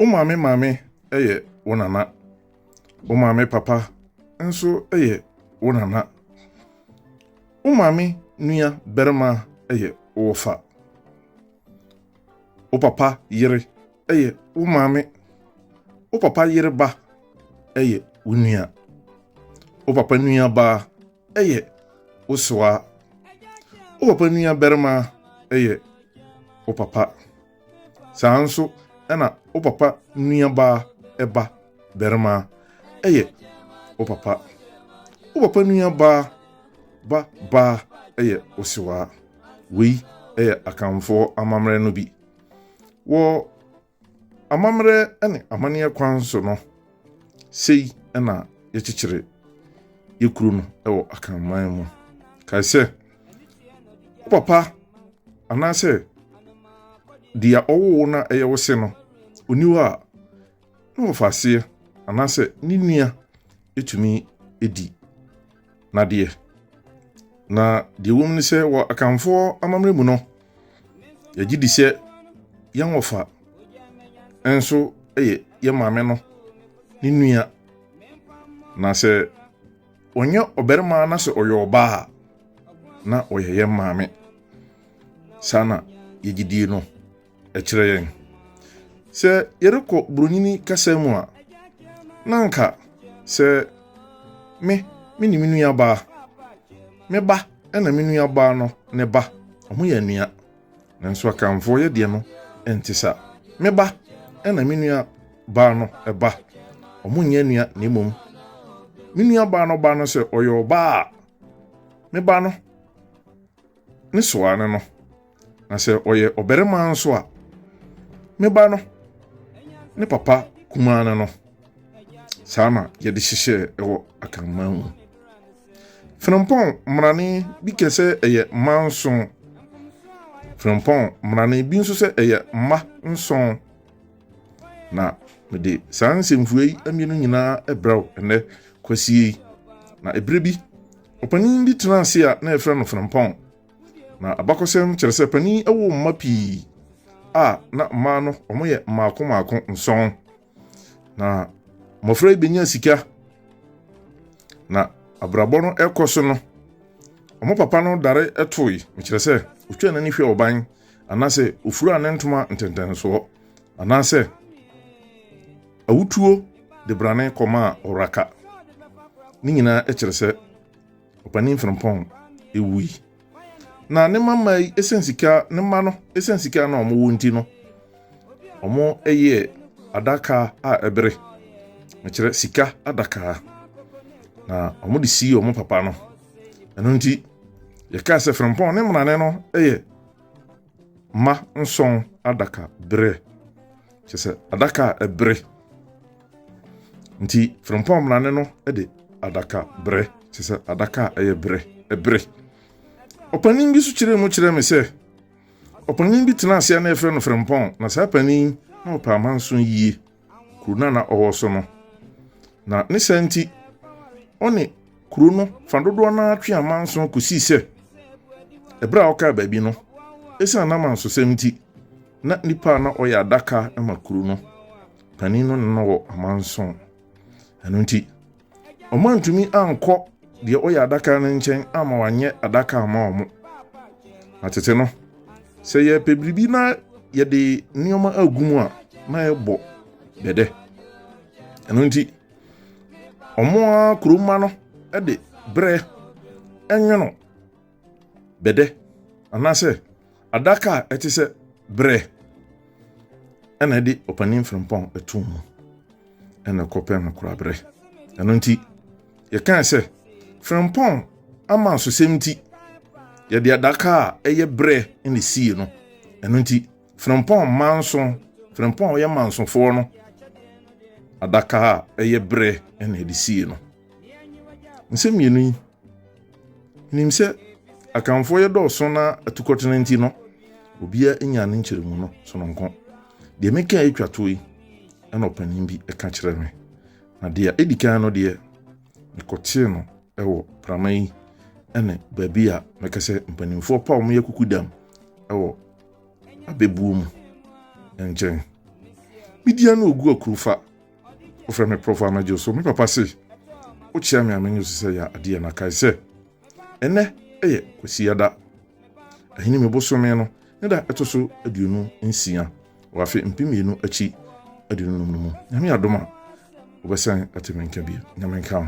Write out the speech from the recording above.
Wo maame maame yɛ wo nana. Wo maame papa nso yɛ wo nana. Wo maame nua barima yɛ wo wɔfa. Wo papa yere yɛ wo maame. Wo papa yere ba yɛ wo nua. Wo papa nua baa yɛ wo sewaa. Wo papa nua barima yɛ wo papa. Saa nso na wo papa nuabaa ba barima yɛ wo papa. Wo papa nuabaa ba baa yɛ wo sewaa. Wei yɛ Akanfoɔ amammerɛ no bi. Wɔ amammerɛ ne amanneɛ kwan so no, Sei na yɛkyekyere yɛ kuro no wɔ akanman mu. Kae sɛ, wo papa anaasɛ deɛ ɔwoo no a ɛyɛ wo se no, ɔni hɔ a, na wɔfa aseɛ anaasɛ ne nua ɛtumi di Na deɛ na deɛ wɔm ne sɛ wɔ akanfoɔ amammerɛ mu no yɛgye di sɛ yɛn wɔfa nso yɛ yɛn maame no ne nua na sɛ ɔnyɛ ɔbarima na sɛ ɔyɛ ɔbaa a na ɔyɛ yɛn maame saa na yɛgye die no ɛkyerɛ yɛn. Sɛ yɛrekɔ buronyini kasa mu a, na anka sɛ me me ne me nuabaa, me ba ɛna me nuabaa no ne ba, wɔn yɛ nua. Nanso akanfoɔ yɛ deɛ no ɛnte sa. Me ba ɛna me nuabaa no ɛba, wɔn nyɛ nua na mmom. Me nuabaa no ba no sɛ ɔyɛ ɔbaa a, me ba no Ne soa ne no. Na sɛ ɔyɛ ɔbarima nso a, me ba no, ne papa kumaa no no. Saa na yɛde hyehyɛɛ ɛwɔ akanman mu. Frempɔn mmarane bi kɛ sɛ ɛyɛ mma nson. Frempɔn mmarane bi nso sɛ ɛyɛ mma nson. Na mede saa nsɛmfua yi mmienu nyinaa brɛ wo ɛnnɛ kwasie yi. Na ɛberɛ bi Ɔpanin bi tenaa ase a na wɔfrɛ no Frimpong. Ná abakɔsɛm kyerɛ sɛ panin woo mma pii, a na mmaa no wɔyɛ mmaako mmaako nson. Na mmofra yi benyaa sika, na abrabɔ no rekɔ so no, wɔn papa no dare toe, mekyerɛ sɛ, otwaa n'ani hwɛɛ ɔban, anaasɛ ofuraa ne ntoma ntɛntɛnsoɔ, anaasɛ Awutuo de brane kɔmaa Ɔraka. Ne nyinaa kyerɛ sɛ Ɔpanin Frimpong wui. Na ne mmammaa yi ɛsiane sika ne mma no ɛsiane sika na wɔwɔ nti no wɔyɛɛ adaka a ɛbere mekyerɛ sika adakaa na wɔde sii wɔn papa no ɛno nti yɛkaa sɛ Frimpong ne mmarane no yɛ mma nson adaka berɛ kyɛ sɛ adaka a ɛbere nti frempɔn mmarane no de adaka brɛ kyɛ sɛ adaka a ɛyɛ brɛ ɛbere ɔpanin bi so kyerɛ mu kyerɛ me sɛ ɔpanin bi tena aseɛ na yɛfrɛ no frempɔn na saa panin na ɔpɛ amanso yie kuro no na ɔwɔ so no na ne saa nti ɔne Kuro no fa dodoɔ no ara twe amanso kɔsii sɛ ɛberɛ a wɔkaa baabi no, ɛsiane n'amansosɛm nti, na nipa a na ɔyɛ adaka ma kuro no panin no na na wɔ amanso. Ɛno nti, ɔmantumi ankɔ deɛ ɔyɛ adaka no nkyɛn ama wanyɛ adaka ama wɔn. Na tete no, sɛ yɛpɛ biribi na yɛde nneɛma agu mu a, na yɛbɔ dɛdɛ. Ɛno nti, Ɔmo ara kuromma no de berɛ nwono bɛdɛ anaasɛ adaka a ɛte sɛ berɛ ɛna ɛde ɔpanin frimpɔn ɛto mu ɛna ɛkɔpɛn no kora berɛ ɛno nti yɛkaa sɛ frimpɔn ama nsosɛm nti yɛde adaka a ɛyɛ berɛ ɛna sie no ɛno nti Frempɔn manso, Frempɔn a ɔyɛ mansofoɔ no adaka a ɛyɛ berɛ na ɛde sie no. Nsɛm mmienu yi, nim sɛ Akanfoɔ yɛ dɔɔso na atukɔtena nti no, obiara nya ne nkyerɛmu no sononko. Deɛ meka yi twa toɔ yi, ɛna ɔpanin bi ɛka kyerɛ me. Na deɛ ɛdi kan no deɛ, mekɔtee no ɛwɔ prama yi ɛne baabi a mɛka sɛ mpanimfoɔ pa wɔn yɛ kukudam ɛwɔ abɛbuo mu nkyɛn. Media no ogu akurufa. Wofrɛ me prɔfo anadwo so. Me papa se, wokyea me a menye so sɛ yɛ adeɛ na kae sɛ, ɛnɛ yɛ kwasiada. Ahene mu bosome no ne da ɛto so aduonu nsia wɔ afe mpem mmienu akyi aduonum no mu. Nyame adom a, wobɛsan ate me nka bio. Nyame nka ho.